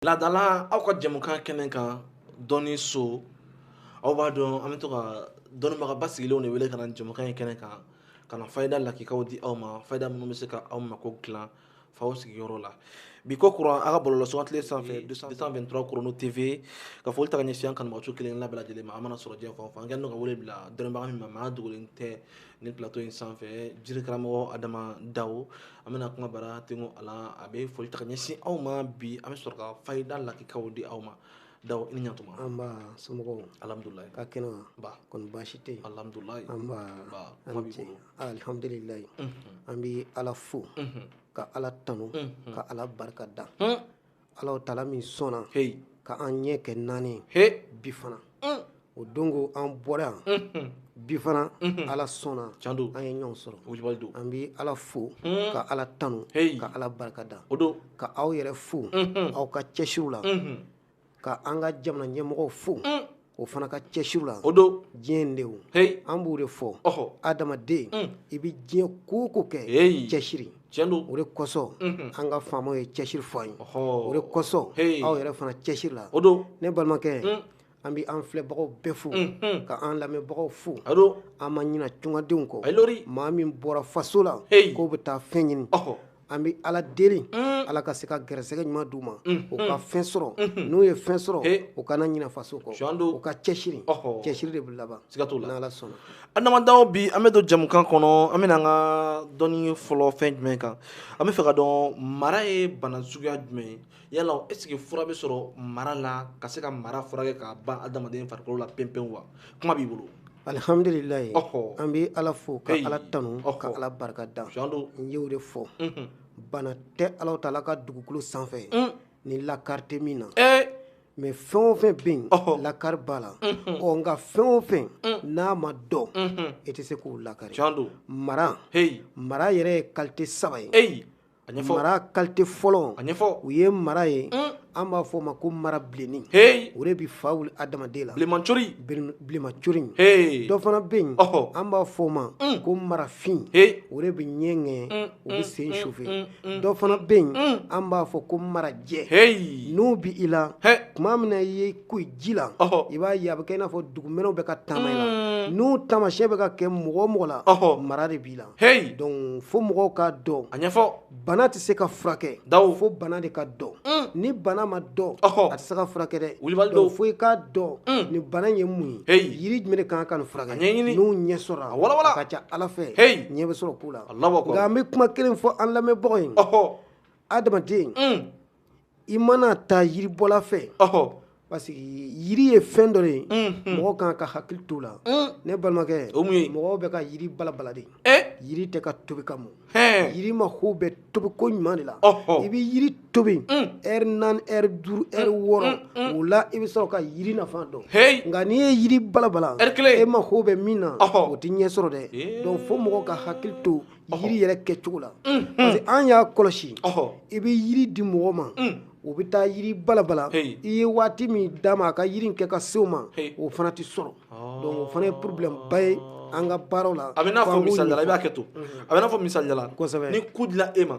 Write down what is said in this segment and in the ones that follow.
laadala aw ka jɛmukan kɛnɛ kan dɔnniso aw b'a dɔn an bɛ to ka dɔnnibagaba sigilenw de wele ka na jɛmukan in kɛnɛ kan ka na fayida lakikaw di aw ma fayida minnu bɛ se ka aw mako dilan f'aw sigiyɔrɔ la bi ko kura aw ka bɔlɔlɔ sugandilen sanfɛ 223 chrono tv ka foli ta ka ɲɛsin an kanubagaw kelenna bɛɛ lajɛlen ma an mana sɔrɔ diɲɛ fan o fan an kɛlen don ka wele bila dɔnnibaga min ma maa dogolen tɛ nin plateau in sanfɛ jirikaramɔgɔ adama dawo an bɛna kuma bara tengo a la a bɛ foli ta ka ɲɛsin aw ma bi an bɛ sɔrɔ ka fayida lakikaw di aw ma dawo i ni ɲatuma nba somɔgɔw alihamdulilayi ka kɛnɛ wa kɔni baasi tɛ yen alihamdulilayi alihamdulilayi an bɛ ala fo ka ala tanu ka ala barika da ala taala min sɔnna ka an ɲɛ kɛ naani ye bi fana o don ko an bɔra yan bi fana ala sɔnna an ye ɲɔgɔn sɔrɔ an bɛ ala fo ka ala tanu ka ala barika da ka aw yɛrɛ fo aw ka cɛsiriw la ka an ka jamana ɲɛmɔgɔw fo u fana ka cɛsiriw la o don diɲɛ in de o hey. an b'o de fɔ adamaden mm. i bɛ diɲɛ ko o ko kɛ hey. cɛsiri tiɲɛ don o de kosɔn mm -hmm. an ka faamaw ye cɛsiri fɔ an ye o de kosɔn hey. aw yɛrɛ fana cɛsiri la o don ne balimakɛ mm. an bɛ an filɛbagaw bɛɛ fo mm -hmm. ka an lamɛnbagaw fo o don an ma ɲina tungadenw kɔ maa min bɔra faso la hey. k'u bɛ taa fɛn ɲini an bɛ ala deli ala ka se ka gɛrɛsɛgɛ ɲuman d'u ma u ka fɛn sɔrɔ n'u ye fɛn sɔrɔ u kana ɲina faso kɔ u ka cɛsiri cɛsiri de bɛ laban siga t'o la n'ala sɔnna adama dawo bi an bɛ don jɛmukan kɔnɔ an bɛna an ka dɔnni fɔlɔ fɛn jumɛn kan an bɛ fɛ ka dɔn mara ye bana suguya jumɛn ye yala est-ce que fura bɛ sɔrɔ mara la ka se ka mara furakɛ ka ban adamaden farikolo la pewu-pewu wa kuma b'i bolo alihamdulilayi an bɛ ala fo ka ala tanu ka ala barika da n y'o de fɔ mhm. bana tɛ ala taala ka dugukolo sanfɛ mm. ni lakari tɛ min na eh. mais fɛn o fɛn bɛ yen lakari b'a la mhm. ɔ nka fɛn o fɛn mm. n'a ma dɔn mhm. i tɛ se k'o lakari mara mara yɛrɛ ye kalite saba ye a ɲɛfɔ mara kalite fɔlɔ a ɲɛfɔ o ye mara ye mm. an b'a fɔ o ma ko mara bilenni hey. o de bi fa wuli adamaden la bilenmancori bilenmancori hey. dɔ fana bɛ yen oh. an b'a fɔ o ma mm. ko marafin hey. o de bi ɲɛ ŋɛɲɛ mm. o bɛ siyɛn sufɛ mm. mm. dɔ fana bɛ yen mm. an b'a fɔ ko marajɛ hey. n'o b'i la hey. tuma min na i ye i ko ji la oh. i b'a ye a bɛ kɛ i n'a fɔ dugumɛnɛw bɛ ka taama i la n'o taamasiyɛn bɛ ka kɛ mɔgɔ o mɔgɔ la oh. mara de b'i la Hey! Donc fo mɔgɔw k'a dɔn, a ɲɛfɔ, bana tɛ se ka furakɛ, dawo, fo bana de ka dɔn, un, ni bana ma dɔn, ɔhɔ, a tɛ se ka furakɛ dɛ, wilibali don, donc fo i k'a dɔn, un, nin bana in ye mun ye, heyi, yiri jumɛn de ka kan ka nin furakɛ, a ɲɛɲini, n'o ɲɛ sɔrɔla, a wala-wala, a ka ca Ala fɛ, heyi, ɲɛ bɛ sɔrɔ ko la, Alahu akbar, nka an bɛ kuma kelen fɔ an lamɛnbagaw ye, ɔhɔ, adamaden, un i mana taa yiribɔla fɛ parce que yiri ye fɛn dɔ de ye mɔgɔ kan ka hakili t'o la ne balimakɛ mɔgɔw bɛ ka yiri balabala de yiri tɛ ka tobi ka mɔn yiri mako bɛ tobi koɲuman de la i bɛ yiri tobi ɛri naani ɛri duuru ɛri wɔɔrɔ o la i bɛ sɔrɔ ka yiri nafa dɔn nka n'i ye yiri balabala e mako bɛ min na o tɛ ɲɛ sɔrɔ dɛ donc fo mɔgɔ ka hakili to yiri yɛrɛ kɛcogo la parce que an y'a kɔlɔsi i bɛ yiri di mɔgɔ ma o bɛ taa yiri balabala i ye waati min d'a ma a ka yiri in kɛ ka se o ma o fana tɛ sɔrɔ donc o fana ye problème ba ye an ka baaraw la a bɛ n'a fɔ misaliya la i b'a kɛ to a bɛ n'a fɔ misaliya la ni ku dila e ma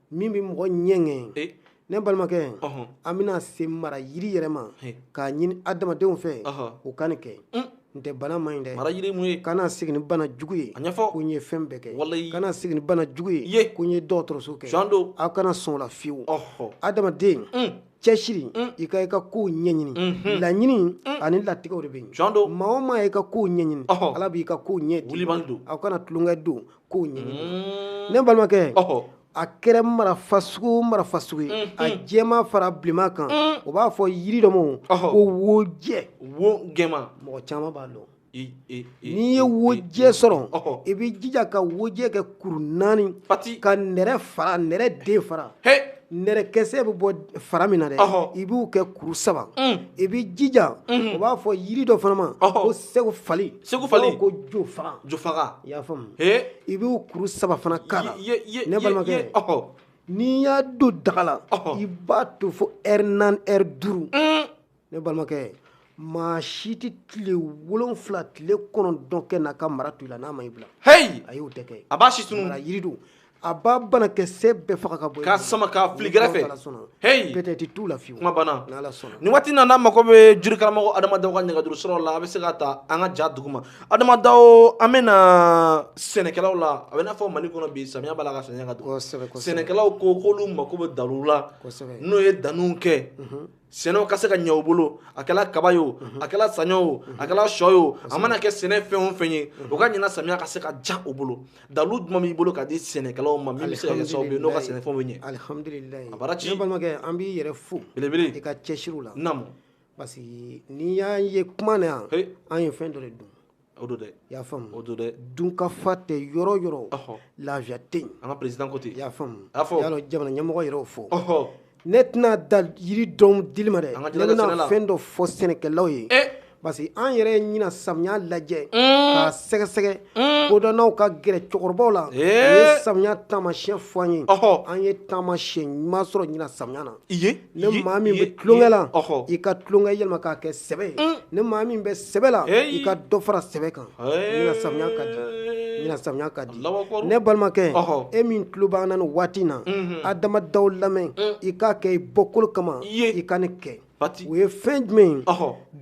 min bɛ mɔgɔ ɲɛŋɛ eh. ne balimakɛ an bɛna se mara yiri yɛrɛ ma eh. k'a ɲini adamadenw fɛ u ka nin kɛ mm. n'o tɛ bana man ɲi dɛ mara yiri mun ye kana segin ni bana jugu ye a ɲɛfɔ ko n ye fɛn bɛɛ kɛ kana segin ni bana jugu ye ko n ye dɔgɔtɔrɔso kɛ tiɲɛ don aw kana sɔn o la fiyewu adamaden mm. cɛsiri mm. i ka i ka kow ɲɛɲini mm-hmm. laɲini mm. ani latigɛw de bɛ yen maa o maa ye i ka kow ɲɛɲini ala b'i ka kow ɲɛ di aw kana tulonkɛ don kow ɲɛɲini mm. ne balimakɛ a kɛra mara fasugu o mara fasugu ye a jɛman fara bilenman kan o b'a fɔ yiri dɔ ma ko wojɛ wo jɛman mɔgɔ caman b'a dɔn n'i ye wojɛ sɔrɔ i b'i jija ka wojɛ kɛ kuru naani ka nɛrɛ fara nɛrɛ den fara nɛrɛkɛsɛ bɛ bɔ fara min na dɛ i b'u kɛ kuru saba mm. i b'i jija mhm. o b'a fɔ yiri dɔ fana ma ko segu fali segu fali ko jofaga jofaga i y'a faamu i b'u kuru saba fana k'a la ne balimakɛ n'i y'a don daga la i b'a to fo ɛri naani ɛri duuru mm. ne balimakɛ maa si tɛ tile wolonfila tile kɔnɔntɔn kɛ n'a ka mara to i la n'a ma i bila heyi ayi o tɛ kɛ a b'a si tunun mara yiri don a b'a banakisɛ bɛɛ faga ka bɔ k'a sama k'a fili kɛrɛfɛ heyi peut-être t'o la fiyewu kuma banna n'ala sɔnna nin waati na n'a mako bɛ jiri karamɔgɔ adama daw ka nɛgɛjuru siraw la a bɛ se ka ta an ka ja duguma adama daw an bɛ na sɛnɛkɛlaw la a bɛ n'a fɔ mali kɔnɔ bi samiya b'a la ka samiya ka don kosɛbɛ kosɛbɛ sɛnɛkɛlaw ko k'olu mako bɛ dalu la kosɛbɛ n'o ye danniw kɛ sɛnɛw ka se ka ɲɛ u bolo a kɛla kaba ye o a kɛla saɲɔ o a kɛla sɔ ye o a mana kɛ sɛnɛ fɛn o fɛn ye o ka ɲina samiya ka se ka diya u bolo dalu jumɛn b'i bolo ka di sɛnɛkɛlaw ma min bɛ se ka kɛ sababu ye n'o ka sɛnɛfɛnw bɛ ɲɛ alihamdulilayi a baraji ne balimakɛ an b'i yɛrɛ fo belebele i ka cɛsiriw la naamu parce que n'i y'an ye kuma na yan an ye fɛn dɔ de dun o don dɛ i y'a faamu o don dɛ dunkafa tɛ yɔrɔ o yɔrɔ lafiya tɛ yen an ka président ko ten i y'a faamu a fɔ y'a jamana ɲɛmɔgɔ yɛrɛ y'o fɔ ne tɛna dan yiri dɔrɔn dili ma dɛ ne bɛna fɛn dɔ fɔ sɛnɛkɛlaw ye eh! parce que an yɛrɛ ye ɲina samiya lajɛ hmm. k'a sɛgɛsɛgɛ hmm. kodɔnnaw ka gɛrɛ cɛkɔrɔbaw la eh! u ye samiya taamasiyɛn fɔ an ye an ye taamasiyɛn ɲuman sɔrɔ ɲina samiya na i ye ni maa min bɛ tulonkɛ la i ka tulonkɛ yɛlɛma k'a kɛ sɛbɛ ye mm. ni maa min bɛ sɛbɛ la i ka dɔ fara sɛbɛ kan ɲina samiya ka di ɲina samiya ka di ne balimakɛ e min tulo b'an na nin waati in na mm-hmm. adama daw lamɛn mm. i k'a kɛ i bɔkolo kama i ka nin kɛ o ye fɛn jumɛn ye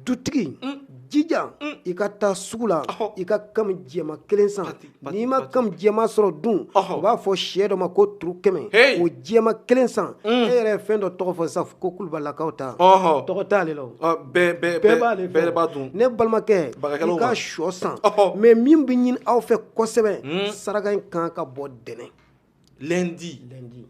dutigi mm. jija mm. i ka taa sugu la i ka kami jɛma kelen san n'i ma kami jɛma sɔrɔ dun u b'a fɔ sɛ dɔ ma ko turu kɛmɛ o jɛma kelen san mm. e yɛrɛ ye fɛn dɔ tɔgɔ fɔ sisan ko kulubalakaw ta tɔgɔ t'ale la bɛɛ b'ale fɛ ne balimakɛ i ka sɔ san mɛ min bɛ ɲini aw fɛ kosɛbɛ mm. saraka in kan ka bɔ dɛnɛ lundi lundi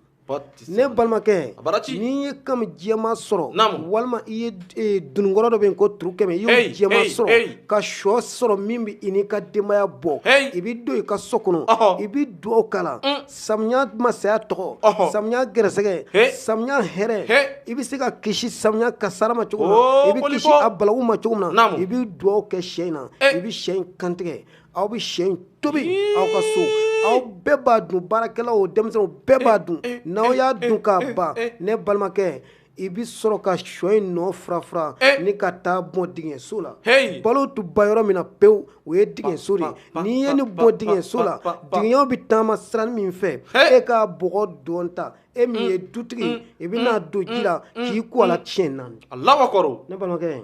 ne balimakɛ n'i ye kami jɛma sɔrɔ walima i ye e, dununkɔrɔ dɔ bɛ yen ko turu kɛmɛ i y'o jɛma sɔrɔ ka shɔ sɔrɔ min bɛ i n'i ka denbaya bɔ i bɛ don i ka so kɔnɔ i bɛ dugawu k'a la mm. samiya masaya tɔgɔ samiya gɛrɛsɛgɛ samiya hɛrɛ i bɛ se ka kisi samiya kasara ma cogo min na i bɛ kisi a balawu ma cogo min na i bɛ dugawu kɛ sɛ in na i bɛ sɛ in kantigɛ aw bɛ sɛ in tobi aw ka so aw bɛɛ b'a dun baarakɛlaw denmisɛnnin bɛɛ b'a dun n'aw y'a dun k'a ban ne balimakɛ i bɛ sɔrɔ ka shɔ in nɔ furafura ni ka taa bɔn digiɲɛso la balo tɛ ban yɔrɔ min na pewu o ye digiɲɛso de ye n'i ye nin bɔn digiɲɛso la digiɲɛw bɛ taama siranin min fɛ e k'a bɔgɔ dɔn ta e min ye dutigi i bɛ n'a don ji la k'i ko a la tiɲɛ naani a la kɔrɔ ne balimakɛ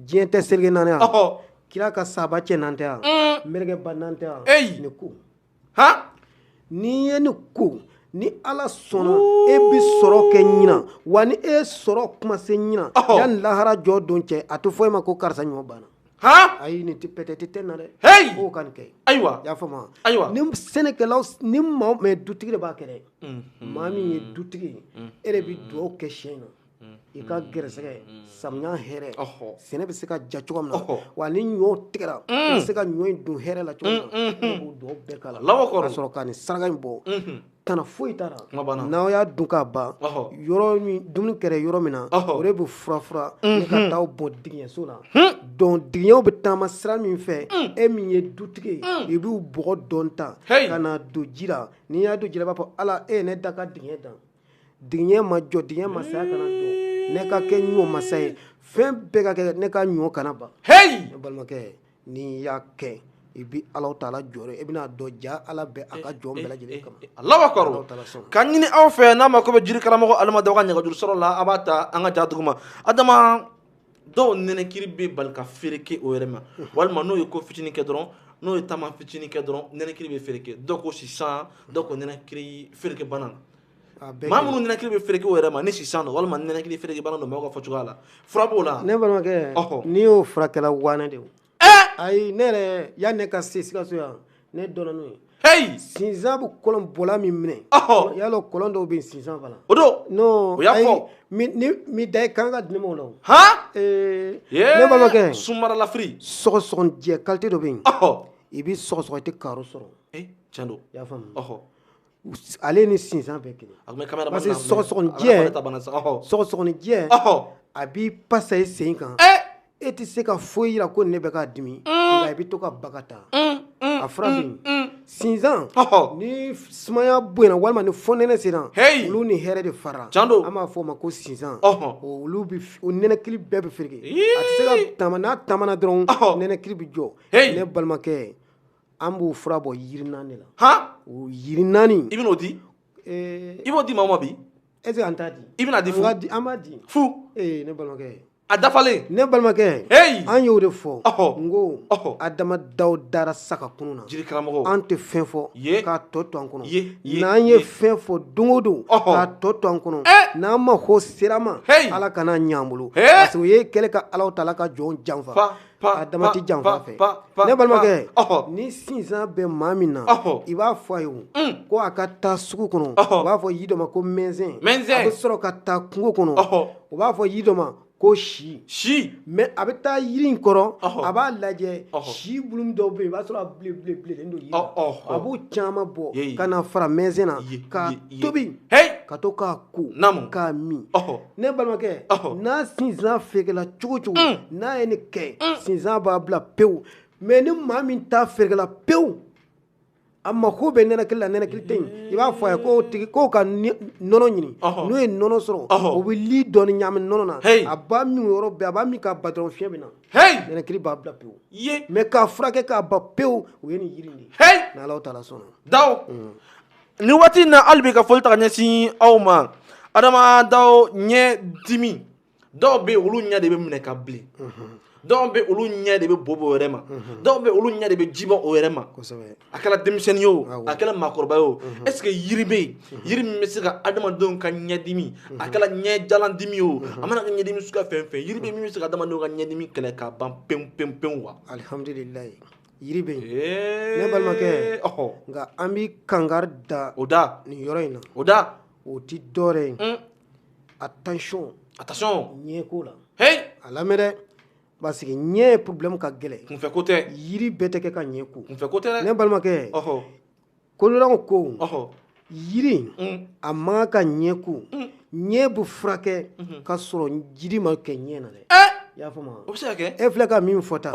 diɲɛ tɛ seleke naani kira ka sahaba cɛ naani tɛ yan mɛrɛkɛba naani tɛ yan eyi ni ko ha n'i ye ni ko ni ala sɔnna e bɛ sɔrɔ kɛ ɲina wa ni e sɔrɔko ma se ɲina yanni lahara jɔ don cɛ a tɛ fɔ e ma ko karisa ɲɔ banna han ayi nin tɛ pɛtɛti tɛ na dɛ heyi k'o ka nin kɛ ayiwa y'a faamu wa ayiwa ni sɛnɛkɛlaw ni maa mɛ dutigi de b'a kɛ dɛ maa min ye dutigi ye e de bɛ dugawu kɛ sɛ in na i ka gɛrɛsɛgɛ samiya hɛrɛ sɛnɛ bɛ se ka ja cogo min na wa ni ɲɔ tigɛra i bɛ se ka ɲɔ in don hɛrɛ la cogo min na k'o dugawu bɛɛ k'a la ka sɔrɔ ka nin saraka in bɔ tana foyi t'a la n'aw y'a dun k'a ban yɔrɔ min dumuni kɛra yɔrɔ min na o de bɛ furafura ni ka taa bɔn digiɲɛso la donc digiɲɛw bɛ taama sira min fɛ e min ye dutigi ye i b'u bɔgɔ dɔn ta ka n'a don ji la n'i y'a don ji la i b'a fɔ ala e ye ne dan ka digiɲɛ dan digiɲɛ ma jɔ digiɲɛ masaya kana jɔ ne ka kɛ ɲɔ masa ye fɛn bɛɛ ka kɛ ne ka ɲɔ kana ban heyi balimakɛ n'i y'a kɛ i bɛ ala taala jɔyɔrɔ i bɛn'a dɔn ja ala bɛ a ka jɔn bɛɛ lajɛlen kama allahu akbar ka ɲini aw fɛ n'a mako bɛ jiri karamɔgɔ adama daw ka nɛgɛjuru sɔrɔ la a b'a ta an ka ja dugu ma dɔw nɛnɛkiri bɛ bali ka fereke o yɛrɛ ma walima n'o ye ko fitinin kɛ dɔrɔn n'o ye taama fitinin kɛ dɔrɔn nɛnɛkiri bɛ fereke dɔw ko sisan dɔw ko nɛnɛkiri fereke bana maa minnu nɛnɛkiri bɛ fereke o yɛrɛ ma ni sisan don walima nɛnɛkiri fereke bana don maaw ka fɔ cogoya la fura b'o la ne balimakɛ n'i y'o furakɛla wanɛ de ayi ne yɛrɛ yanni ne ka se sikaso yan ne dɔnna n'o ye heyi sinsan bɛ kɔlɔn bɔla min minɛ ɔhɔ y'a lɔn kɔlɔn dɔw bɛ yen sinsan fana o don non O y'a ayi, fɔ. mi ni mi da i kan ka di ne ma o la o han ee Yee, ne balimakɛ sunmaralafiri sɔgɔsɔgɔnijɛ kalite dɔ bɛ yen ɔhɔ i bɛ sɔgɔsɔgɔ i tɛ karo sɔrɔ ee tiɲɛ don i y'a faamu ɔhɔ ale ni sinsan bɛɛ kelen parce que sɔgɔsɔgɔnijɛ sɔgɔsɔgɔnijɛ a b'i pasa i sen kan e tɛ se ka foyi yira ko ne bɛ k'a dimi nka i bɛ to ka ban ka taa a fura min sinsan ni sumaya bonyana walima ni fonɛnɛ sera olu ni hɛrɛ de fara an b'a fɔ o ma ko sinsan olu nɛnɛkili bɛɛ bɛ fereke a tɛ se ka taama n'a taamana dɔrɔn nɛnɛkili bɛ jɔ ne balimakɛ an b'o fura bɔ yiri naani de la han o yiri naani i bɛn'o di ee i b'o di maa ma bi est ce que an t'a di i bɛn'a di fu an di an b'a di fu ee ne balimakɛ a dafalen ne balimakɛ heyi an y'o de fɔ ɔhɔ n ko ɔhɔ adama daw dara saga kunun na jiri karamɔgɔ an tɛ fɛn fɔ ye k'a tɔ to an kɔnɔ ye ye n'an ye fɛn fɔ don o don k'a tɔ to an kɔnɔ eh! n'an ma ko sera ma ala kan'a ɲɛ an bolo parce que o ye kɛlɛ ka alahu taala ka jɔn janfa adama tɛ janfa fɛ ne balimakɛ ni sinsan bɛ maa min na i b'a fɔ a ye mm. ko a ka taa sugu kɔnɔ u b'a fɔ yiri dɔ ma ko mɛnsɛn a bɛ sɔrɔ ka taa kungo kɔnɔ u b'a fɔ yiri dɔ ma ko si si mais a bɛ taa yiri in kɔrɔ a b'a lajɛ si bulu dɔw bɛ yen i b'a sɔrɔ a bilenbilenbilen don yiri la a b'o caman bɔ ka na fara mɛnsɛn na k'a tobi ka to k'a ko k'a min ne balimakɛ n'a sinsan ferekela cogo cogo mm. n'a ye nin kɛ mm. sinsan b'a bila pewu mais ni maa min ta ferekela pewu a mako bɛ nɛnɛkili la nɛnɛkili tɛ yen i b'a fɔ a ye k'o tigi k'o ka nɔnɔ ɲini n'o ye nɔnɔ sɔrɔ o bɛ li dɔɔni ɲagami nɔnɔ na a b'a min yɔrɔ bɛɛ a b'a min k'a ban dɔrɔn fiɲɛ bɛ na nɛnɛkili b'a bila pewu mais k'a furakɛ k'a ban pewu o ye nin yiri in de ye n'Ala taala sɔnna. nin waati in na hali bi ka foli ta ka ɲɛsin aw ma adama daw ɲɛ dimi dɔw bɛ olu ɲɛ de bɛ minɛ ka bilen dɔw bɛ olu ɲɛ de bɛ bo bɔ o yɛrɛ ma dɔw bɛ olu ɲɛ de bɛ ji bɔ o yɛrɛ ma a kɛra denmisɛnnin ye o a kɛra maakɔrɔba ye o est ce que yiri bɛ yen yiri min bɛ se ka adamadenw ka ɲɛdimi a kɛra ɲɛjalan dimi ye o a mana kɛ ɲɛdimi suguya fɛn o fɛn yiri bɛ min bɛ se ka adamadenw ka ɲɛdimi kɛlɛ k'a ban pewu pewu pewu wa alihamdulilayi Yiri bɛ yen ne balimakɛ nka an bɛ kankari da nin yɔrɔ in na o da o tɛ dɔwɛrɛ ye attention attention ɲɛ ko la a lamɛn dɛ parce que ɲɛ problème ka gɛlɛn kunfɛ ko tɛ yiri bɛɛ tɛ kɛ ka ɲɛ ko kunfɛ ko tɛ ne balimakɛ kololaw ko yiri mm. a man kan ka ɲɛ ko mm. ɲɛ bɛ furakɛ mm-hmm. ka sɔrɔ jiri ma kɛ ɲɛ na dɛ eh! i y'a faamu o bɛ se ka kɛ e filɛ ka min fɔ tan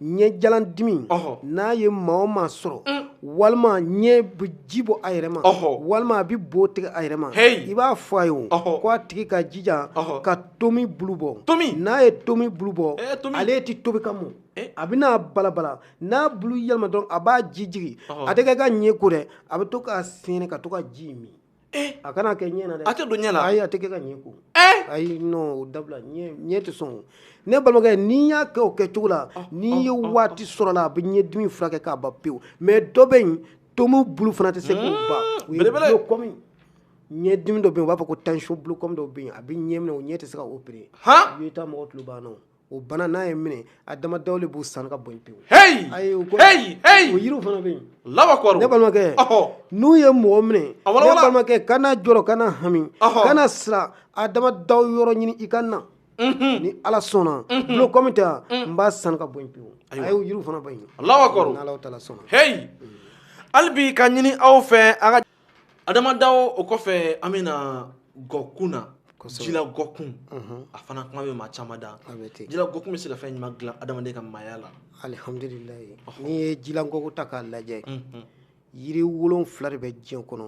ɲɛjalan dimi n'a ye maa o maa sɔrɔ mm. walima ɲɛ bɛ ji bɔ a yɛrɛ ma walima a bɛ bo tigɛ a yɛrɛ ma i b'a fɔ a ye o ko a tigi ka jija ka tomi bulu bɔ n'a ye tomi bulu bɔ eh, ale tɛ tobi ka mɔn Eh? a bɛna balabala n'a bulu yɛlɛma dɔrɔn a b'a ji jigin a tɛ kɛ ka ɲɛ ko dɛ a bɛ to k'a sɛnɛ ka to ka ji min eh? a kana kɛ ɲɛ na dɛ a tɛ don ɲɛ na ayi a tɛ kɛ ka ɲɛ ko eh? ayi non o dabila ɲɛ tɛ sɔn ne balimakɛ n'i y'a kɛ o kɛcogo la n'i ye waati sɔrɔ la a bɛ ɲɛdimi furakɛ k'a ban pewu mais dɔ bɛ yen tomi bulu fana tɛ se k'o hmm, ban o ye glaucome ɲɛdimi dɔ bɛ yen u b'a fɔ ko tension glaucome dɔ bɛ yen a bɛ ɲɛ minɛ o ɲɛ tɛ se ka opérer i bɛ taa mɔgɔ tulo banna o o bana n'a y'i minɛ adama dawo de b'u san ka bɔ pewu heyi ayi o ko heyi heyi o yiriw fana bɛ yen lawa kɔrɔ ne balimakɛ ɔhɔ n'u ye mɔgɔ minɛ ne balimakɛ kana jɔrɔ kana hami kana siran adama dawo yɔrɔ ɲini i ka na ni ala sɔnna glaucome ta n b'a san ka bɔ pewu ayi o yiriw fana bɛ yen lawa kɔrɔ n'ala taala sɔnna heyi hali bi ka ɲini aw fɛ an ka adama dawo o kɔfɛ an bɛ na gɔkun na jila gɔkun mhm. a fana kuma bɛ maa caman da jila gɔkun bɛ se ka fɛn ɲuman dilan adamaden ka maaya la alihamdulilayi n'i ye jila gɔkun ta k'a lajɛ mhm. yiri wolonfila de bɛ diɲɛ kɔnɔ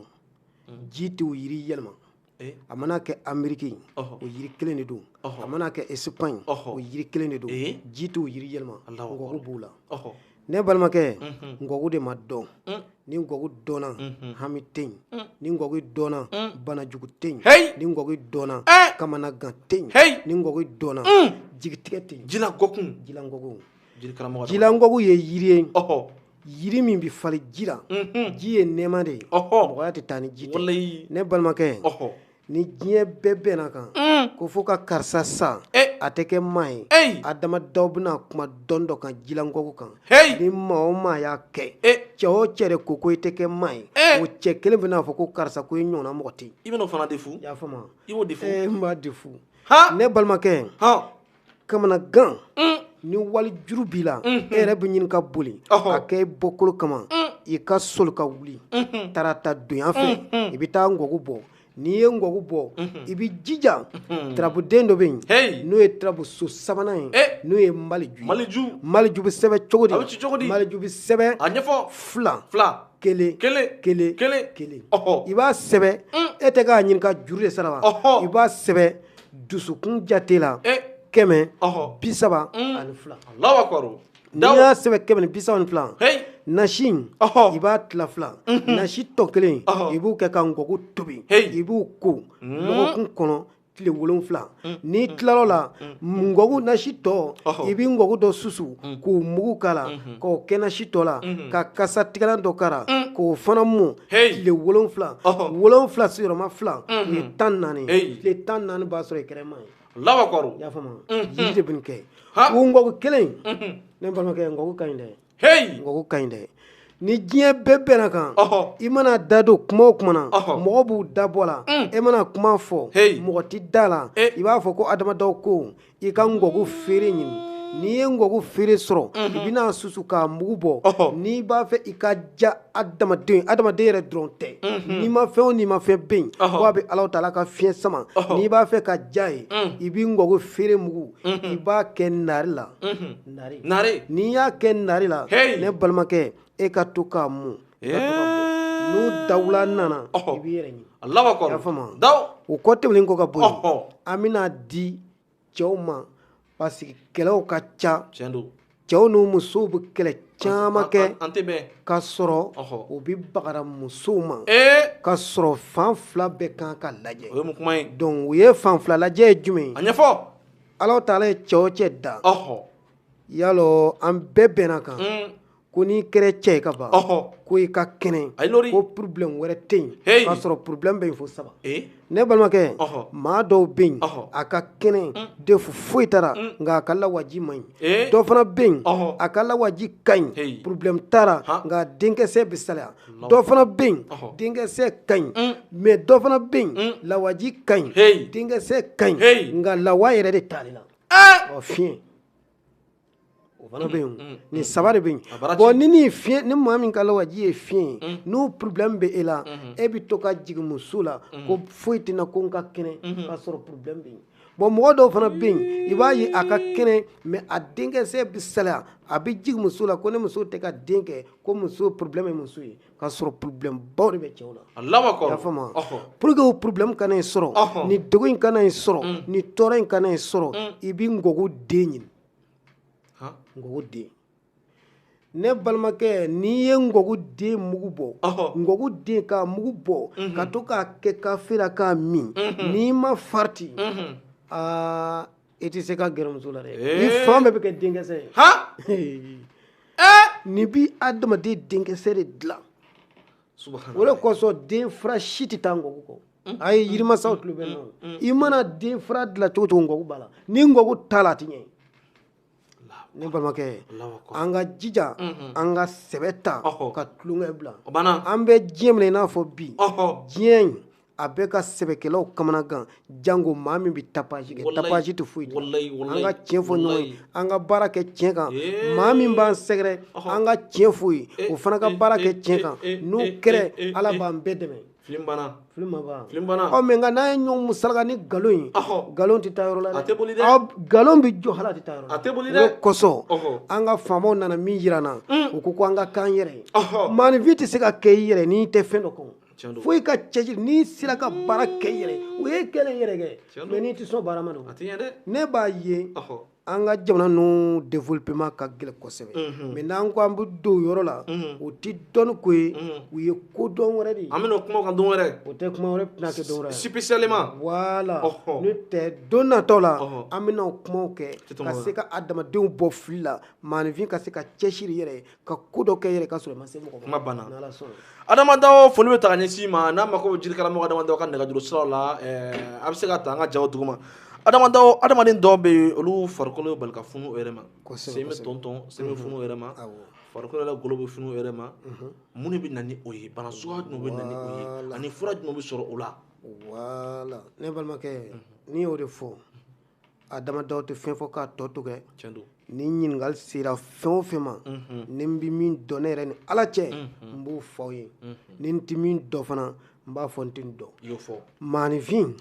mhm. ji t'o yiri yɛlɛma eh? a mana kɛ ameriki o yiri kelen de don a mana kɛ esipaɲi o yiri kelen de don eh? ji t'o yiri yɛlɛma ngɔku b'o la ne balimakɛ mhm. ngɔku de ma dɔn mm. ni ngɔku dɔnna mhm. hami tɛ yen mm. ni ngɔku dɔnna mm. banajugu tɛ yen ni ngɔku dɔnna eh! kamanagan tɛ yen ni ngɔku dɔnna jigitigɛ tɛ yen jilangɔku jilangɔku ye yiri ye yiri min bɛ falen ji la ji ye nɛɛma de ye mɔgɔya tɛ taa ni ji tɛ ne balimakɛ ni diɲɛ bɛɛ bɛnna kan k'o fɔ ko karisa sa a tɛ kɛ maa ye adama dawo bɛna kuma dɔn dɔ kan jilangɔku kan ni maa o maa y'a kɛ cɛ o cɛ ko ko i tɛ kɛ maa ye o cɛ kelen bɛn'a fɔ ko karisa ko i ɲɔgɔnna mɔgɔ tɛ i bɛna fana de fo y'a faamu i de fo ne balimakɛ kamanagan mm. ni wali juru b'i la mm-hmm. e yɛrɛ bɛ ɲini ka boli k'a kɛ i bɔkolo kama mm. i ka soli ka wuli mm-hmm. tarata donya fɛ mm-hmm. i bɛ taa ngɔgu bɔ n'i ye ngɔgu bɔ i bɛ jija tarabuden dɔ bɛ yen n'o ye tarabuso sabanan ye eh. n'o ye maliju maliju maliju bɛ sɛbɛn cogo di maliju bɛ sɛbɛn a ɲɛfɔ fila fila kelen kelen kelen kelen kelen i b'a sɛbɛn mm. e tɛ k'a ɲininka juru de sara wa i b'a sɛbɛn dusukun jate la eh. kɛmɛ bi saba mm. ani fila n'i y'a sɛbɛn kɛmɛ ni bi saba ni fila nasi in i b'a tila fila mhm. nasi tɔ kelen i b'o kɛ ka ngɔku tobi i b'o ko mm. lɔgɔkun kɔnɔ tile wolonfila mm. n'i tilal'o la ngɔku nasi tɔ i bɛ ngɔku dɔ susu k'o mugu k'a la mhm. k'o kɛ nasi tɔ la mhm. ka kasa tigɛlan dɔ k'a la k'o fana mɔ tile wolonfila wolonfila sigiyɔrɔma fila o ye tan naani ye tile tan naani b'a sɔrɔ i kɛra maa ye Alahu akibaru i y'a faamu wa jiri de bɛ nin kɛ o ngɔku kelen in ne balimakɛ ngɔku ka ɲi dɛ ngɔku ka ɲi dɛ ni diɲɛ bɛɛ bɛnn'a kan i mana da don kuma o kuma na mɔgɔw b'u da bɔ a la e mana kuma fɔ mɔgɔ tɛ da a la i b'a fɔ ko adamadaw ko I ka ngɔku feere ɲini n'i ye ngɔku feere sɔrɔ i bɛn'a susu k'a mugu bɔ n'i b'a fɛ i ka diya adamaden adamaden yɛrɛ dɔrɔn tɛ nimafɛn o nimafɛn bɛ yen fo a bɛ Alahu taala ka fiɲɛ sama n'i b'a fɛ ka diy'a ye i bɛ ngɔku feere mugu i b'a kɛ naare la naare n'i y'a kɛ naare la ne balimakɛ e ka to k'a mun n'o dawula nana i b'i yɛrɛ ɲini Alahu akibaru i y'a faamu wa o kɔ tɛmɛnen kɔ ka bɔ yen an bɛn'a di cɛw ma parce que kɛlɛw ka ca tiɲɛ don cɛw n'u musow bɛ kɛlɛ caman kɛ an tɛ bɛn ka sɔrɔ u bɛ bagara musow ma ka sɔrɔ fan fila bɛɛ kan ka lajɛ o ye mun kuma ye donc u ye fan fila lajɛ ye jumɛn ye a ɲɛfɔ Alahu taala ye cɛ o cɛ da yalɔ an bɛɛ bɛnn'a kan ko n'i kɛra cɛ ye ka ban ko i ka kɛnɛ ko problème wɛrɛ tɛ yen k'a sɔrɔ problème bɛ yen fo saba ne balimakɛ maa dɔw bɛ yen a ka kɛnɛ de fo foyi t'a la nka a ka lawaji man ɲi dɔ fana bɛ yen a ka lawaji ka ɲi problème t'a la nka denkisɛ bɛ salaya dɔ fana bɛ yen denkisɛ ka ɲi mais dɔ fana bɛ yen lawaji ka ɲi denkisɛ ka ɲi nka lawa yɛrɛ de t'ale la ɔ fiɲɛ O fana bɛ yen nin saba de bɛ yen bon ni ni fi ni maa min ka lawaji ye fiɲɛ ye n'o problème bɛ e la e bɛ to ka jigin muso la ko foyi tɛ n na ko n ka kɛnɛ k'a sɔrɔ problème bɛ yen bon mɔgɔ dɔw fana bɛ yen i b'a ye a ka kɛnɛ mais a denkisɛ bɛ salaya a bɛ jigin muso la ko ne muso tɛ ka den kɛ ko muso problème ye muso ye ka sɔrɔ problème baw de bɛ cɛw la Alahu akbar i y'a faamu wa ɔhɔ pour que o problème kana i sɔrɔ Ɔhɔ. ni degun in kana i sɔrɔ Mm. ni tɔɔrɔ in kana i sɔrɔ Mm. i bɛ ngɔku den ɲini han ngɔku den ne balimakɛ n'i ye ngɔku den mugu bɔ ɔhɔ ngɔku den k'a mugu bɔ Mhm. ka to k'a kɛ kafe la k'a min Mhm. n'i ma farati Mhm. aa i tɛ se ka gɛrɛ muso la dɛ ni fan bɛɛ bɛ kɛ denkɛsɛ ye han nin bi adamaden denkɛsɛ de dilan o de kosɔn den fura si tɛ taa ngɔku kɔ a ye yirimasaw tulo bɛ nɔ i mana den fura dilan cogo cogo ngɔku b'a la ni ngɔku t'a la a tɛ ɲɛ ne balimakɛ an ka jija an ka sɛbɛ ta ka tulonkɛ bila an bɛ diɲɛ min na i n'a fɔ bi diɲɛ in a bɛ ka sɛbɛkɛlaw kamanagan jango maa min bɛ tapage kɛ tapage tɛ foyi an ka tiɲɛ fɔ ɲɔgɔn ye an ka baara kɛ tiɲɛ kan maa min b'an sɛgɛrɛ an ka tiɲɛ fɔ o ye o fana ka baara kɛ tiɲɛ kan n'o kɛra ala b'an bɛɛ dɛmɛ filim banna filim ma ban filim banna ɔ mais nka n'an ye ɲɔgɔn musalaka ni nkalon ye nkalon tɛ taa yɔrɔ la dɛ a tɛ boli dɛ nkalon bɛ jɔ hali a tɛ taa yɔrɔ la a tɛ boli dɛ o kosɔn an ka faamaw nana min jira an na u ko ko an ka k'an yɛrɛ ye maanifin tɛ se ka kɛ i yɛrɛ n'i tɛ fɛn dɔ kan fo i ka cɛsiri n'i sera ka baara kɛ i yɛrɛ o ye kɛlen yɛrɛ kɛ mais n'i tɛ sɔn baara ma don ne b'a ye an ka jamana ninnu développement ka gɛlɛn kosɛbɛ mais n'an ko an bɛ don o yɔrɔ la o tɛ dɔnni ko ye o ye ko dɔ wɛrɛ de ye an bɛna kuma o kan don wɛrɛ o tɛ kuma wɛrɛ tɛna kɛ don wɛrɛ spécialement voilà n'o tɛ don nataw la an bɛna o kumaw kɛ ka se ka adamadenw bɔ fili la maanifin ka se ka cɛsiri i yɛrɛ ye ka ko dɔ kɛ yɛrɛ ka sɔrɔ i ma se mɔgɔ ma n'Ala sɔnna Adama Dao foli bɛ taa ka ɲɛsin i ma n'a mako bɛ jirikaramɔgɔ Adama Dao ka nɛgɛjuru siraw la eh, a bɛ se k'a ta an ka jaw duguma Adama Dao adamaden dɔw bɛ yen olu farikolo bɛ bali ka funu o yɛrɛ ma sen bɛ tɔntɔn sen bɛ mhm. funu o yɛrɛ ma farikolo la golo bɛ funu o yɛrɛ ma mhm. mun de bɛ na ni o ye bana suguya jumɛn bɛ na ni o ye ani fura jumɛn bɛ sɔrɔ o la ne balimakɛ mhm. n'i y'o de fɔ Adama Dao tɛ fɛn fɔ k'a tɔ to kɛ ni ɲininkali sera fɛn o fɛn ma mhm. ni n bɛ min dɔn ne yɛrɛ ni ala cɛ mhm. n b'o fɔ aw ye mhm. ni n tɛ min dɔn fana n b'a fɔ n tɛ nin dɔn maanifin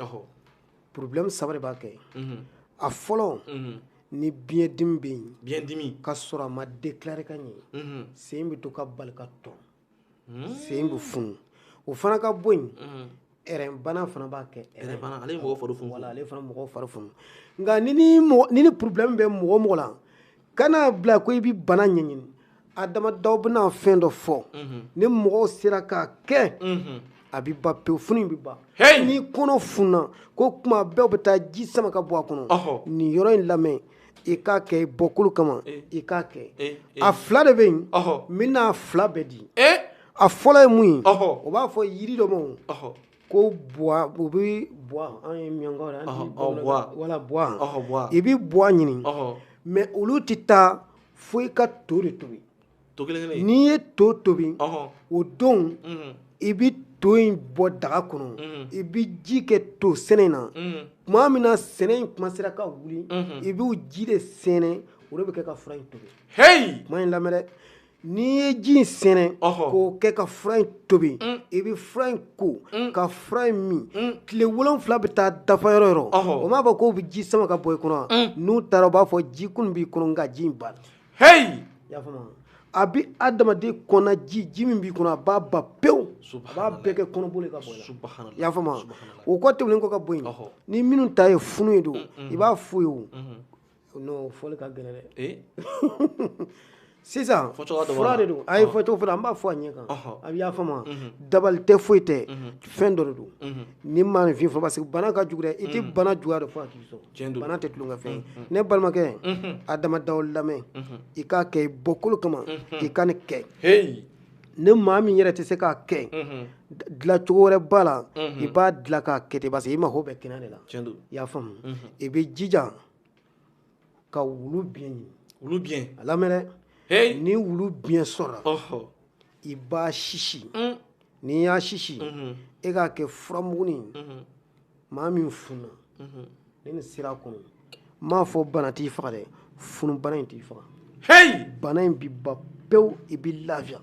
problème saba de b'a kɛ a fɔlɔ ni biɲɛdimi bɛ yen ka sɔrɔ a ma déclarer ka ɲɛ sen bɛ to ka bali ka tɔn hmm. sen bɛ funu o fana ka bɔ yen hmm. ɛrɛnbana fana b'a kɛ ɛrɛnbana ale mɔgɔ fari funu voilà ale fana mɔgɔ fari funu nka ni ni mɔgɔ ni nin problème bɛ mɔgɔ o mɔgɔ la kan'a bila ko i bɛ bana ɲɛɲini Adama Dao bɛna fɛn dɔ fɔ mhm. ni mɔgɔw sera k'a kɛ mhm. a bɛ ban pewu funu in bɛ ban n'i kɔnɔ funna ko kuma bɛɛ bɛ taa ji sama ka bɔ a kɔnɔ nin yɔrɔ in lamɛn i k'a kɛ i bɔkolo kama eh. i k'a kɛ eh, eh. a fila de bɛ yen n bɛna a fila bɛɛ di a fɔlɔ ye mun ye o b'a fɔ yiri dɔ ma ko buwa u bɛ buwa an ye miyankaw la wala buwa i bɛ buwa ɲini mais olu tɛ taa fo i ka to de tobi to kelen kelen n'i ye to tobi o don i bɛ to in bɔ daga kɔnɔ i bɛ ji kɛ to sɛnɛ na tuma min na sɛnɛ in commencera ka wuli i b'o ji de sɛnɛ o de bɛ kɛ ka fura in tobi h kuma in lamɛn n'i ye ji in sɛnɛ k'o kɛ ka fura in tobi i bɛ fura in ko ka fura in min tile wolonfila bɛ taa dafa yɔrɔ yɔrɔ o m'a fɔ k'o bɛ ji sama ka bɔ i kɔnɔ n'u taara u b'a fɔ ji kun b'i kɔnɔ nka ji in ba heyi i y'a faamu a bɛ adamaden kɔnɔ ji ji min b'i kɔnɔ a b'a ban pewu a b'a bɛɛ kɛ kɔnɔboli ye ka bɔ i la i y'a faamu o kɔ tɛmɛnen kɔ ka bɔ yen ni minnu ta ye funu ye don i b'a f'u ye o n'o fɔli ka gɛlɛn dɛ sisan fura de don a ye fɔcogo fɔra an b'a fɔ a ɲɛ kan a bɛ y'a faamu dabali tɛ foyi tɛ fɛn dɔ de don ni maanifin fɔ parce que bana ka jugu dɛ i tɛ bana juguya dɔn fo a k'i sɔrɔ bana tɛ tulonkɛ ye ne balimakɛ adama daw lamɛn i k'a kɛ i bɔkolo kama i ka nin kɛ ni maa min yɛrɛ tɛ se k'a kɛ dilacogo wɛrɛ b'a la i b'a dila k'a kɛ ten i mago bɛ kɛnɛ de la i y'a faamu i bɛ jija ka wulu biɲɛ ɲini a lamɛn dɛ ni wulu biɲɛ sɔrɔ i b'a sisi n'i y'a sisi e k'a kɛ furamugunin maa min fununa ni nin sira kɔnɔ n m'a fɔ bana t'i faga dɛ funu bana in t'i faga heyi bana in bi ban pewu i bi lafiya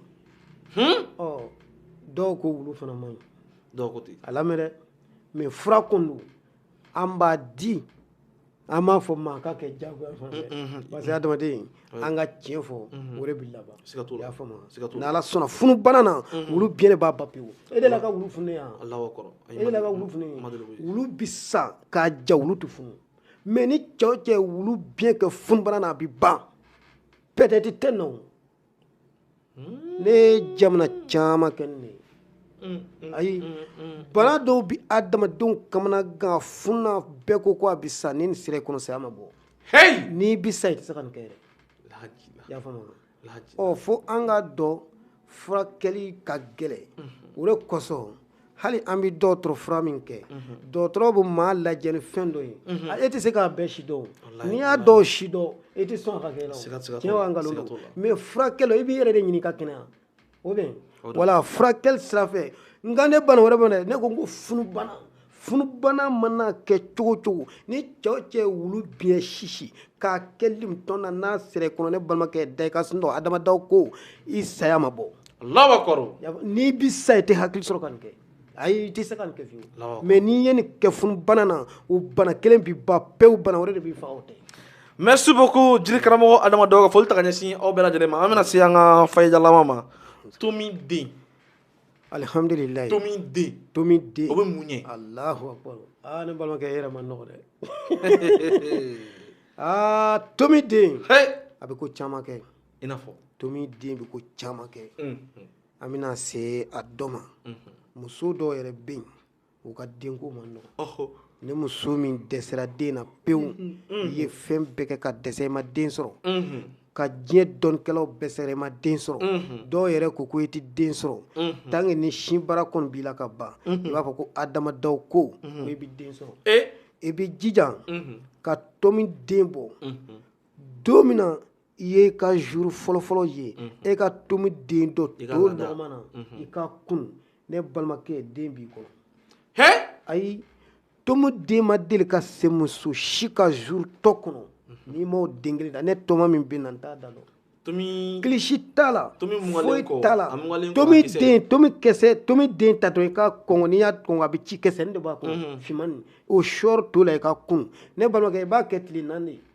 hmm? ɔ dɔw ko wulu fana man ɲi dɔw ko ten a lamɛn dɛ mais fura kun don an b'a di an m'a fɔ maa k'a kɛ jago ye fana dɛ mm, mm, mm, parce que adamaden an ka tiɲɛ fɔ o de bɛ laban i y'a faamu ni ala sɔnna funu bana na wulu biɲɛ de b'a ban pewu e delila ka wulu funu ye e delila ka wulu funu wulu bɛ sa k'a ja wulu tɛ funu mais ni cɛ o cɛ wulu biɲɛ kɛ funu bana na a bɛ ban peut-être tɛ nɔ ne ye jamana caman kɛ nin ye ayi bana dɔw bɛ adamadenw kamanagan funna bɛɛ ko ko a bɛ sa ni nin sira i kɔnɔ saya ma bɔ n'i bɛ sa i tɛ se ka nin kɛ yɛrɛ i y'a faamu ɔ fo an k'a dɔn furakɛli ka gɛlɛn o de kosɔn hali an bɛ dɔgɔtɔrɔ fura min kɛ dɔgɔtɔrɔ bɛ maa lajɛ ni fɛn dɔ ye e tɛ se k'a bɛɛ sidɔn n'i y'a dɔw sidɔn e tɛ sɔn ka kɛ tiɲɛ nkalon don mais furakɛla i b'i yɛrɛ de ɲini ka kɛnɛya o bɛ wala furakɛli sira fɛ nka ne bana wɛrɛ ma ne ko n ko funubana funubana mana kɛ cogo cogo ni cɛ o cɛ wulu biɲɛ sisi k'a kɛ limtɔn na n'a sera i kɔnɔ ne balimakɛ da i ka sunɔgɔ adama daw ko i saya ma bɔ lawa kɔrɔ n'i bi sa i tɛ hakili sɔrɔ ka nin kɛ ayi i tɛ se ka nin kɛ fiyewu mais n'i ye nin kɛ funubana na o bana kelen bi ban pewu bana wɛrɛ de b'i faga o tɛ merci beaucoup jiri karamɔgɔ adama daw ka foli ta ka ɲɛsin aw bɛɛ lajɛlen ma an bɛna se an ka fayijalama ma tomi den alihamdulilayi tomi den tomi den o bɛ mun ye alahu akbar aa ne balimakɛ e yɛrɛ ma nɔgɔ dɛ aa tomi den a bɛ ko caman kɛ i n'a fɔ tomi den bɛ ko caman kɛ an bɛna se a dɔ ma muso dɔw yɛrɛ bɛ yen u ka denko ma nɔgɔ ni muso min dɛsɛra den na pewu i ye fɛn bɛɛ kɛ ka dɛsɛ i ma den sɔrɔ ka diɲɛ dɔnnikɛlaw bɛɛ sɛgɛrɛ i ma den sɔrɔ dɔw yɛrɛ ko ko e tɛ den sɔrɔ tant que ni sin bara kɔni b'i la ka ban i b'a fɔ ko adama daw ko e bɛ den sɔrɔ e bɛ jija ka tomi den bɔ don min na i ye i ka jour fɔlɔfɔlɔ ye e ka tomi den don to nɔgɔma na i k'a kunu ne balimakɛ den b'i kɔnɔ he ayi tomi den ma deli ka se muso si ka jour tɔ kɔnɔ n'i m'o den kelen da ne tɔgɔma min bɛ n na n t'a da dɔn kilisi t'a la foyi t'a la tomi den tomi kisɛ tomi den tatɔ i k'a kɔnkɔn n'i y'a kɔnkɔn a bɛ ci kisɛ nin de b'a kɔnɔ finman nin o sɔri to la i k'a kunu ne balimakɛ i b'a kɛ tile naani de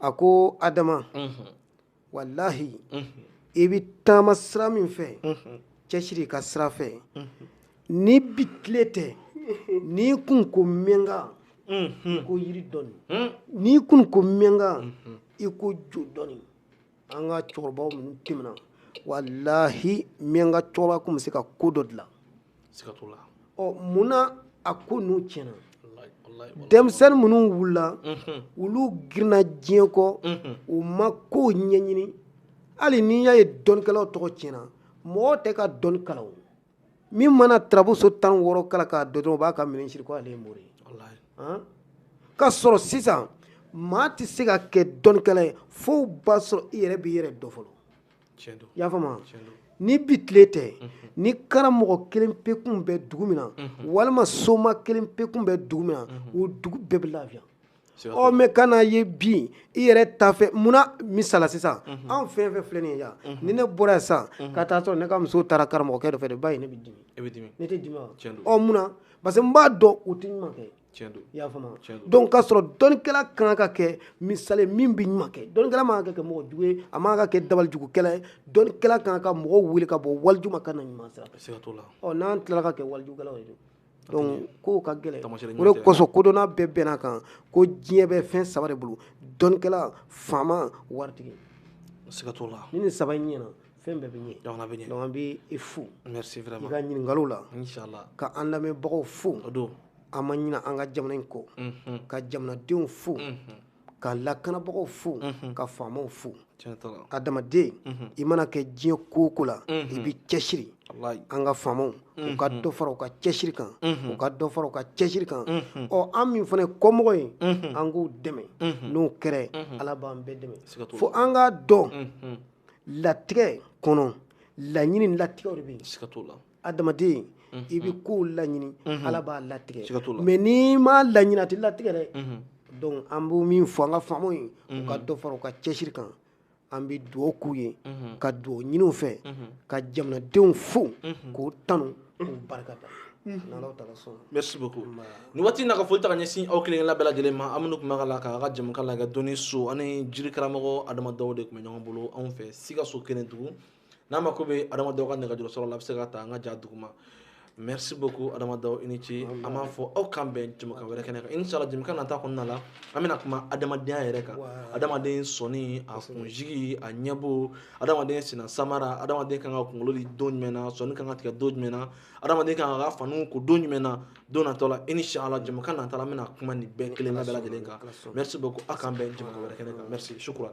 a ko adama walahi i bɛ taama sira min fɛ cɛsiri ka sira fɛ ni bi tile tɛ n'i kun ko miyanka i ko yiri dɔɔni n'i kun ko miyanka i ko jo dɔɔni an ka cɛkɔrɔbaw minnu tɛmɛna walahi miyanka cɛkɔrɔba kun bɛ se ka ko dɔ dilan siga t'o la ɔ mun na a ko ninnu tiɲɛna denmisɛnnin minnu wulila olu girinna diɲɛ kɔ u ma kow ɲɛɲini hali n'i y'a ye dɔnnikɛlaw tɔgɔ tiɲɛna mɔgɔ tɛ ka dɔnni kalan o min mana tarabuso tan wɔɔrɔ kalan k'a dɔn dɔrɔn u b'a ka minɛn siri ko ale ye mori ye k'a sɔrɔ sisan maa tɛ se ka kɛ dɔnnikɛla ye fo b'a sɔrɔ i yɛrɛ b'i yɛrɛ dɔn fɔlɔ y'a faamu ni bi tile tɛ ni karamɔgɔ kelen pe kun bɛ dugu min na walima soma kelen pe kun bɛ dugu min na o dugu bɛɛ bɛ lafiya ɔ mɛ ka n'a ye bi i yɛrɛ tafɛ munna misala sisan an fɛn fɛn filɛ nin ye yan ni ne bɔra yan sisan ka taa sɔrɔ ne ka muso taara karamɔgɔkɛ dɔ fɛ ba ye ne bɛ dimi ne tɛ dimi ɔ munna parce que n b'a dɔn u tɛ ɲuman kɛ i y'a faamu donc k'a sɔrɔ dɔnnikɛla kan ka kɛ misali min bɛ ɲuman kɛ dɔnnikɛla man ka kɛ mɔgɔ jugu ye a man ka kɛ dabalijugukɛla ye dɔnnikɛla kan ka mɔgɔw wele ka bɔ walijugu ma ka na ɲuman sira fɛ ɔ n'an tilala ka kɛ walijugukɛlaw ye donc kow ka gɛlɛn o de kosɔn kodɔnna bɛɛ bɛnn'a kan ko diɲɛ bɛ fɛn saba de bolo dɔnnikɛla faama waritigi siga t'o la ni nin saba in ɲɛna fɛn bɛɛ bɛ ɲɛ jamana bɛ ɲɛ donc an bɛ i fo merci vraiment i ka ɲininkaliw la inshallah ka an lamɛnbagaw fo o don an ma ɲina an ka jamana in kɔ ka jamanadenw fo ka lakanabagaw fo ka faamaw fo adamaden i mana kɛ diɲɛ ko o ko la i bɛ cɛsiri an ka faamaw u ka dɔ fara u ka cɛsiri kan u ka dɔ fara u ka cɛsiri kan ɔ an min fana ye kɔmɔgɔ ye an k'u dɛmɛ n'o kɛra ala b'an bɛɛ dɛmɛ fo an k'a dɔn latigɛ kɔnɔ laɲini latigɛw de bɛ yen adamaden i bɛ kow laɲini ala b'a latigɛ mɛ n'i m'a laɲini a tɛ latigɛ dɛ donc an b'o min fɔ an ka faamaw ye u ka dɔ fara u ka cɛsiri kan an bɛ dugawu k'u ye ka dugawu ɲini u fɛ ka jamanadenw fo k'u tanu k'u barika da merci beaucoup nin waati in na ka foli ta ka ɲɛsin aw kelen kelenna bɛɛ lajɛlen ma aw minnu tun b'a la k'an ka jɛmukan lajɛ dɔnni so ani jiri karamɔgɔ adama daw de tun bɛ ɲɔgɔn bolo anw fɛ sikaso kɛnɛdugu n'a mako bɛ adama daw ka nɛgɛjuru sɔrɔ la a bɛ se k'a ta an ka ja duguma merci beaucoup adama daw i ni ce an b'a fɔ aw k'an bɛn jɛmukan wɛrɛ kɛnɛ kan inshallah jɛmukan nata kɔnɔna la an bɛna kuma adamadenya yɛrɛ kan adamaden sɔnni a kunsigi a ɲɛbo adamaden sen na samara adamaden kan ka kunkolo di don jumɛn na sɔnni kan ka tigɛ don jumɛn na adamaden kan ka faniw ko don jumɛn na don natɔ la inshallah jɛmukan nata la an bɛna kuma nin bɛɛ kelen bɛɛ lajɛlen kan merci beaucoup aw k'an bɛn jɛmukan wɛrɛ kɛnɛ kan merci shukran